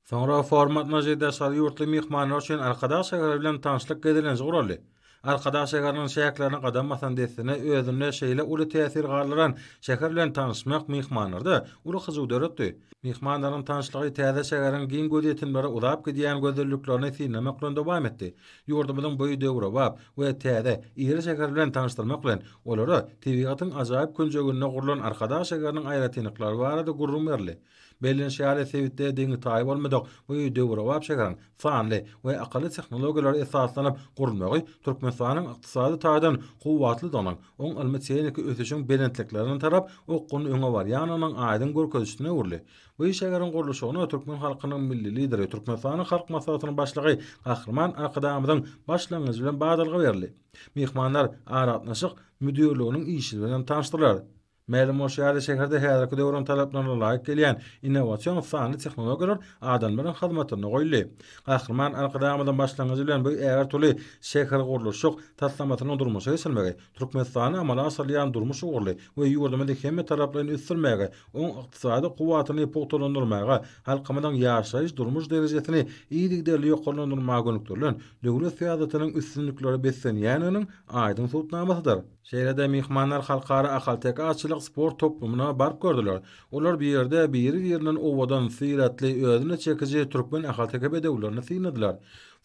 Soňra format myzy daşary ýurtly myhmanlar üçin Arkadag şägeri bilen tanyşlyk gezelenji guraldy. Arkadag şägeriniň çäklerine gadam basan dessine özünde şeýle uly täsir galdyran şäher bilen tanyşmak myhmanlarda uly hyjuw döretdi. Myhmanlaryň tanyşlygy täze şägeriň giň gözýetimlere uzap gidýän gözelliklerini synlamak bilen dowam etdi. Ýurdumyzyň boýy döwrebap we täze, iri şäheri bilen tanyşdyrmak bilen, olara tebigatyň ajaýyp künjeginde gurlan Arkadag şägeriniň aýratynlyklary barada gürrüň berildi. Bellenişi ýaly, sebitde deňi-taýy bolmadyk bu döwrebap şäheriň sanly we akylly tehnologiýalara esaslanyp gurulmagy Türkmenistanyň ykdysady taýdan kuwwatlydygynyň, oň ylmy-tehniki ösüşiň belentliklerine tarap okgunly öňe barýandygynyň aýdyň görkezijisine öwrüldi. Bu şäheriň gurluşygyna türkmen halkynyň Milli Lideri, Türkmenistanyň Halk Maslahatynyň Başlygy Gahryman Arkadagymyzyň başlangyjy bilen badalga berildi. Myhmanlar Aragatnaşyk müdirliginiň işi bilen tanyşdylar. Mälim bolşy ýaly, şäherde häzirki döwrüň talaplaryna laýyk gelýän innowasion sanly tehnologiýalar adamlaryň hyzmatyna goýuldy. Gahryman Arkadagymyzyň başlangyjy bilen bu ägirt uly şähergurluşyk taslamasynyň durmuşa geçirilmegi Türkmenistanda amala aşyrylýan durmuş ugurly we ýurdumyzy hemmetaraplaýyn ösdürmäge, oň ykdysady kuwwatyny pugtalandyrmaga, halkymyzyň ýaşaýyş-durmuş derejesini yzygiderli ýokarlandyrmaga gönükdirilen döwlet syýasatynyň üstünliklere beslenýändiginiň aýdyň subutnamasydyr. Şeýle-de myhmanlar Halkara ahalteke atçylyk sport toplumyna baryp gördüler. Olar bu ýerde biri-birinden owadan, syratly, özüne çekiji türkmen ahalteke bedewlerini synladylar.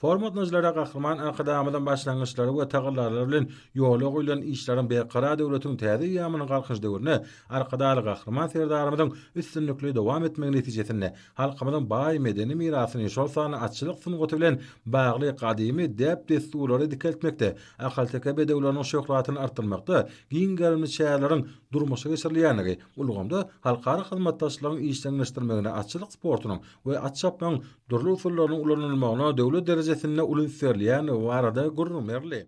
Forum gatnaşyjylara Gahryman Arkadagymyzyň başlangyçlary we tagallalary bilen ýola goýlan işleriň Berkarar döwletiň täze eýýamynyň Galkynyş döwründe Arkadagly Gahryman Serdarymyzyň üstünlikli dowam etmegi netijesinde halkymyzyň baý medeni mirasyny, şol sanda atçylyk sungaty bilen bagly gadymy däp-dessurlary dikeltmekde Ahalteke bedewleriniň şöhratyny artdyrmakda giň gerimli çäreleriň durmuşa geçirilýändigi ulgamda halkara hyzmatdaşlygyň işjeňleşdirmegine atçylyk sportunyň we at çapmagyň dürli usullarynyň ulanylmagyna döwlet derejesinde uly üns berilýändigi barada gürrüň berildi.